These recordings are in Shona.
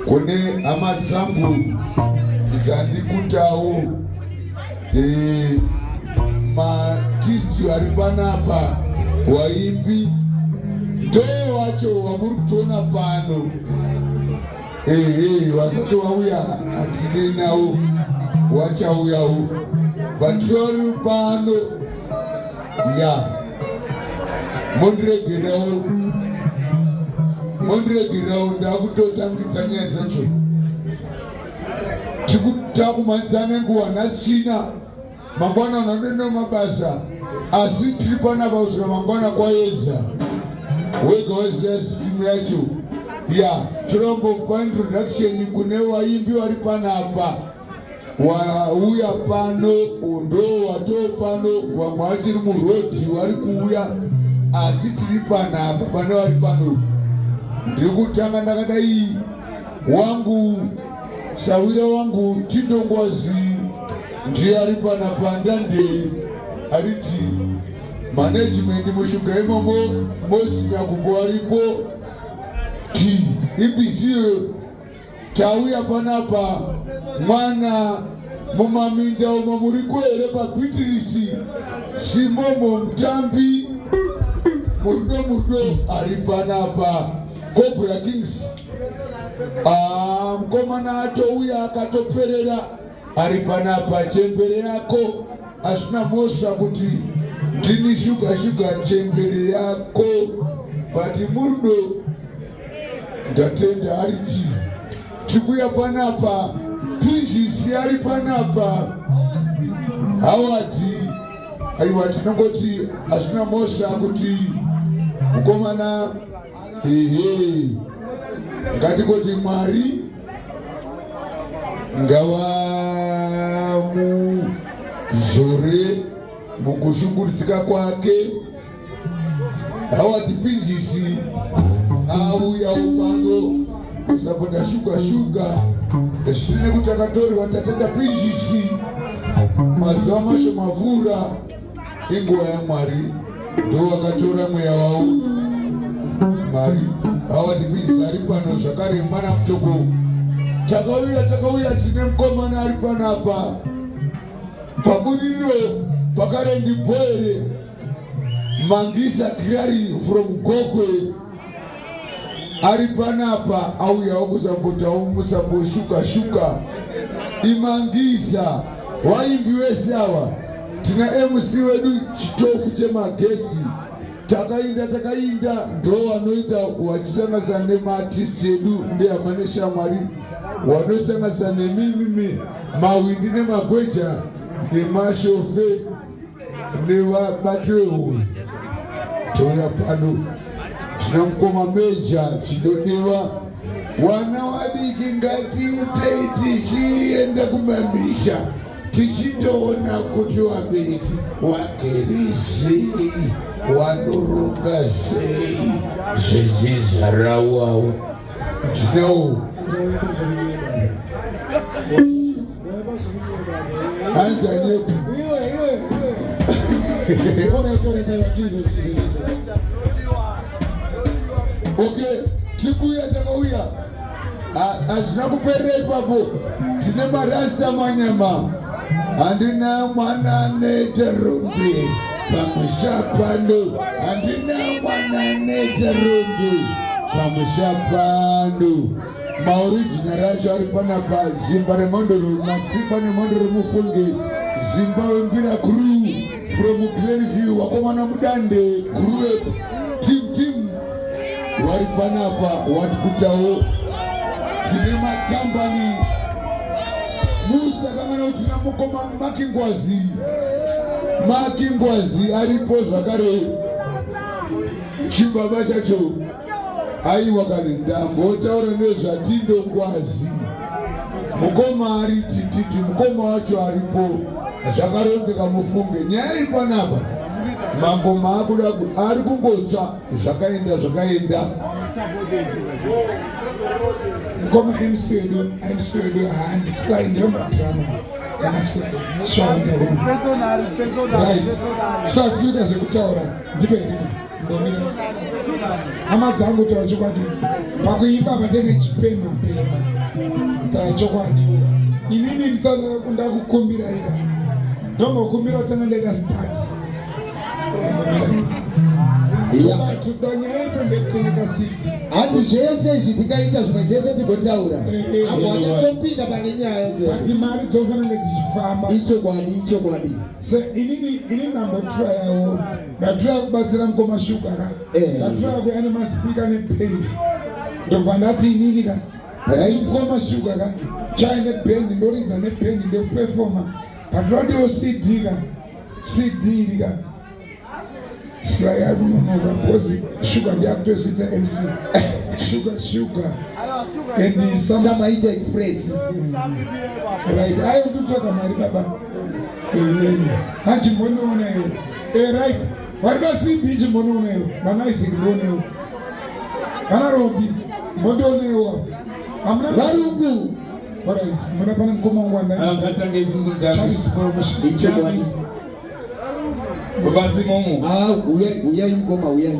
kune hama dzangu dzandikutawo eh, matisti ari panapa waimbi ndo wacho wamuri kutoona pano ehe vasati wauya atine nawo wachauyawo vatori pano ya mondiregerewo mondiregerewo ndakutotangidza nyaya dzacho tikutamumhadzana nguva nhasi china mangwana unandoenda mabasa asi tiri panapa kusvika mangwana kwayedza wega waziva sikimu yacho ya yeah. toda kumbomva introduction kune vaimbi vari panapa wauya pano ndo watoo pano vamwe vachiri murodhi vari kuuya asi tiri panapa pane vari pano ndiri kutanga ndakadai wangu sawira wangu chidongwazi ndiye ari panapa ndande ariti management mushuga imomo mosinya kupo aripo ti ibisiyo Tauya panapa mwana mumaminda umo muri kuhere pagwitirisi simomo mutambi murudo murudo ari panapa cobra kings ah, mukomana atouya akatoperera ari panapa chembere yako asina mosva kuti ndini shuga shuga chembere yako but murudo Ndatenda ariti tikuya panapa pinjisi ari panapa hawadi aiwa tinongoti hazvina mosha kuti mukomana ehe ngatikoti mwari ngavamuzore mukushungurudzika kwake awatipinjisi auya upano kusapota shuga shuga zvisine kuti akatorwa tatenda pinjisi mazuva masho mavura inguva yamwari ndo akatora mweya wavo mari awatipinjisi ari pano zvakare mwana mutoko takauya takauya tine mukomana ari panapa pabudiriro pakarendi bhoere Mangisa Kirari from Gokwe ari panapa auyawo kusapotawo musapo shuka shuka imangiza waimbi wese awa tina MC wedu chitofu chemagetsi takainda takainda ndo wanoita wachisanganisa nemaartist edu ndeamane shamwari wanosanganisa nemimimi mawindi nemagweja nemashofe nevabati vehoyo touya pano tina mukoma meja chinodiwa wana wadiki ngatiitei tichienda kumamisha tichindoona kuti wabereki wagere sei wanoronga sei zvezizarawawo ndinawo hanzi anyepi okay tikuya takauya hazvina kuperera ipapo tine marasta manyama handina mwana nete rumbi pamusha pano handina mwana nete rumbi pamusha pano maorijinari acho ari panapa zimba remondoro masimba nemondoro mufunge zimba wembira guru from glenview wakomana mudande guruwep tim tim wari panapa wati kutawo tine makambani musakamana kuti na mukoma makingwazi makingwazi aripo zvakare chibaba chacho aiwa kani ndambotaura nezvatindo ngwazi mukoma ari tititi mukoma wacho aripo zvakarongeka mufunge nyaya iri panapa mambo maakuda ari kungotsva zvakaenda zvakaenda mukoma mc wedu mc wedu handiswai ndiyo madrama akaswaisvaonga hu right so atikuita zvekutaura ndipo irini hama dzangu taura chokwadi pakuimba patenge chipema pema taura chokwadi inini ndisanakunda kukumbira ira ndongokumbira kutanga ndaita start hanzi zvese izvi tikaita zvimwe zvese tigotaura aatopinda pane nyaya jati mari dzofanenge dzichifamba ichokwadi ichokwadi so inini inini nambotura yawo Ndatura kubatsira mkoma shuga ka. Eh. Ndatura kuyana maspeaker ne band. Ndobva ndati inini ka. Right. Mkoma shuga ka. Chai ne band ndoridza ne band nde performer. Ndatura ndiyo CD ka. CD iri ka. Shuga yaku nonoka because shuga ndiyakuto sita MC. Shuga shuga. And the some Sama ita express. Mm. Right. Ayo tutoka mari baba. Eh. Hachi mbonoona hiyo. Eh, right. Varikuda CD chimbonoonewo. Vana Isaac ndoonewo. Vana Robi mbondoonewo. Hamuna varungu. Alright. Muna pana mkoma wangu anda. Ah, ngatanga isusu ndani. Charles Promotion. Ichobani. Basi momo. Ah, uyai uyai mkoma uyai.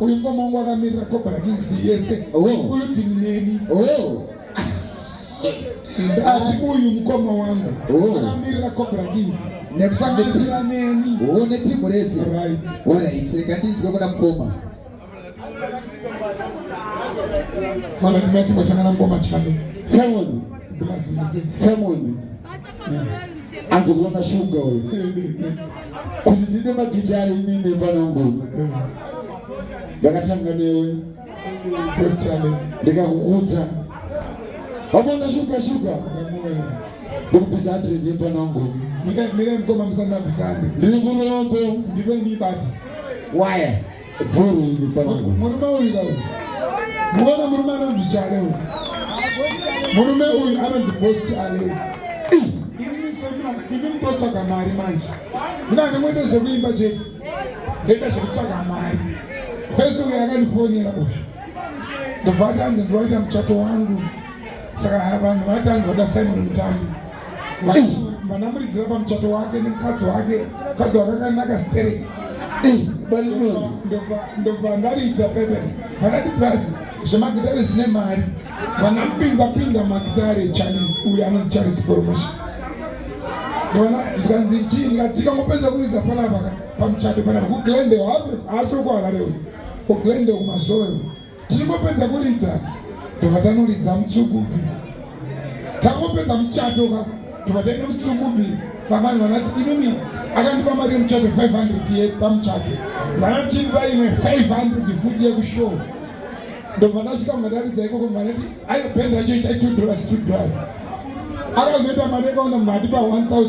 uyu ngoma wangu akamirira cobra kings yese oh. uyu tini neni oh. ati uyu mukoma wangu oh. akamirira cobra kings nekusanganisira neni netimu rese rega ndinzwe kuna mukoma Mana kumeti mwachangana ngoma chani. Seven. Seven. Anzo kuona shuga uyu. Kuti ndine magitari inini panangu. Ndakatanga newe. Christian. Ndikakukudza. Wabona shuga shuga. Ndikupisa hundred yepanangu. Mire mkoma msana msana. Ndikuropo. Ndipe ndibati. Waya. Murume uyu ka uyu. Muona murume anonzi Chale uyu. Murume uyu anonzi Boss Chale uyu. Imi semna, imi mbotsvaga mari manje. Mina ndimwende zvekuimba chete. Ndenda zvekutsvaga mari. Pese uyu akandifonera uyu. Ndobva tanzi ndinoita muchato wangu. Saka vanhu vatanzi vada Simon Mutambi. vanamuridzira pamuchato wake nemukadzi wake mukadzi wake akanaka stere ndobva ndaridza pepe vakati plus zvemagitare zvine mari vanamupinza pinza magitare charles uyo anonzi charles promotion ona zvikanzi chii ndikati tikangopedza kuridza panapaka pamuchato panapa kuglende haasoko harare uyo kuglende kumazoyo Tichingopedza kuridza ndobva tanoridza mutsugubvi. Tangopedza muchato ka ndobva taenda mutsugubvi vamani vanati imimi akandipa mari yemuchato 500 ye pamuchato vanati chindipa imwe 500 futi yekushow ndobva ndasvika mumadaridza ikoko vanati ayo bhenda yacho ita 2 dollars 2 dollars akazoita mari yakaona mumati pa 1000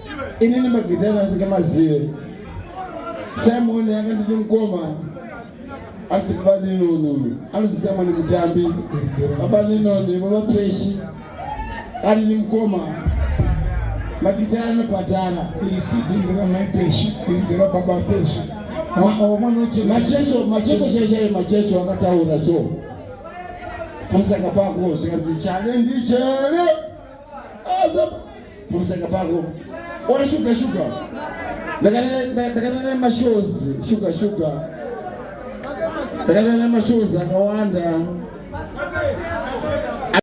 Ini ni magitare asingamazive Simon yakanditi mukoma ati baba Ninoni anonzi Simon Mutambi baba Ninoni baba Peshi ari ni mukoma magitare anopatara isidindira mai Peshi indira baba Peshi macheso macheso chaichai macheso akataura so pasaka pako zvikanzi chale ndichele Musaka pako. Ora shuga shuga. Ndakanana mashows shuga shuga. Ndakanana mashows akawanda.